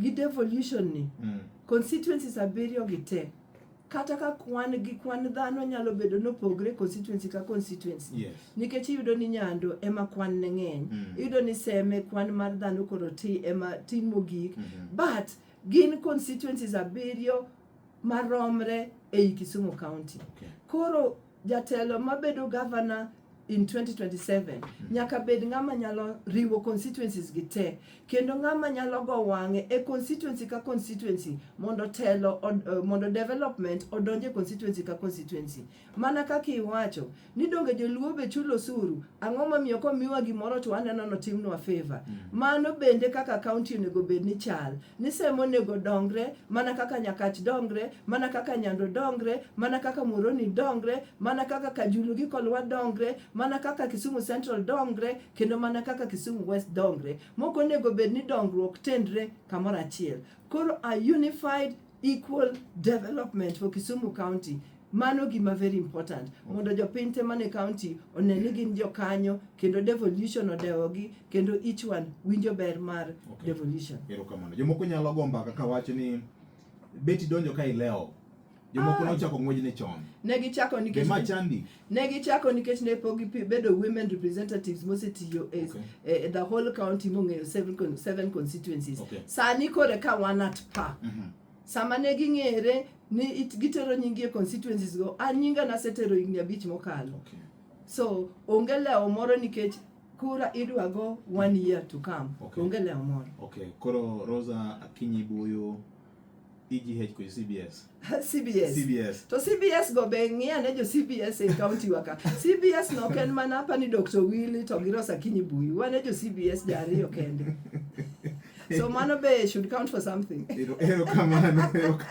gi devolution ni mm. constituencies abiriyo gi te kata ka kwan gi kwan dhano nyalo bedo nopogre constituency ka constituency yes. nikech iyudo ni nyando ema kwan ne ng'eny mm. iyudo ni seme kwan mar dhano koro ti ema tin mogik mm -hmm. but gin constituencies abiriyo maromre ei Kisumu County. Okay. Koro Jatelo mabedo governor in 2027 nyaka bed ng'ama nyalo riwo constituencies gi te kendo ng'ama nyalo go wang'e e constituency ka constituency mondo telo od, eh, mondo development odonje constituency ka constituency mana kaka iwacho ni donge joluo be chulo osuru ang'o momiyo komiwa gimoro to waneno notimnwa favor mano bende kaka county onego bed ni chal ni seme onego dongre mana kaka nyakach dongre mana kaka nyando dongre mana kaka muoroni dongre mana kaka kajulu gi kolwa dongre mana kaka kisumu central dongre kendo mana kaka kisumu west dongre moko onego bed ni dongruok tendre kamoro achiel koro a unified equal development for kisumu county Mano gima very important mondo jopiny te mane county one ni gin jokanyo kendo devolution odewogi kendo each one winjo ber mar Okay. devolution. Erokamano. Jomoko nyalo go mbaka ka wacho ni beti donjo ka ilewo. Jomoko Ah. nochako ng'wej ni chon. Ne gichako Be nikech ma chandi? ne gichako nikech ne pok gipi- bedo women representatives mosetiyo e Okay. e- e the whole county mong'eyo seven, con- seven constituencies Okay. sani kore ka wan at par Mhm. Sama ne ging'ere ni it- gitero nyingi e constituencies go, an nyinga nasetero higni abich mokalo. Okay. So onge lewo moro nikech kura idwa go one year to come. Okay. Onge lewo moro. Okay. Koro Rosa Akinyi Buyu EGH kwenye CBS. CBS. CBS. To CBS go be ng'iya ne jo CBS e county waka. CBS no ok en mana hapa ni Dr. Willy to gi Rosa Kinyi Buyi. Wane jo CBS jariyo kende. so mano be should count for something. Ero- Erokamano. Erokamano.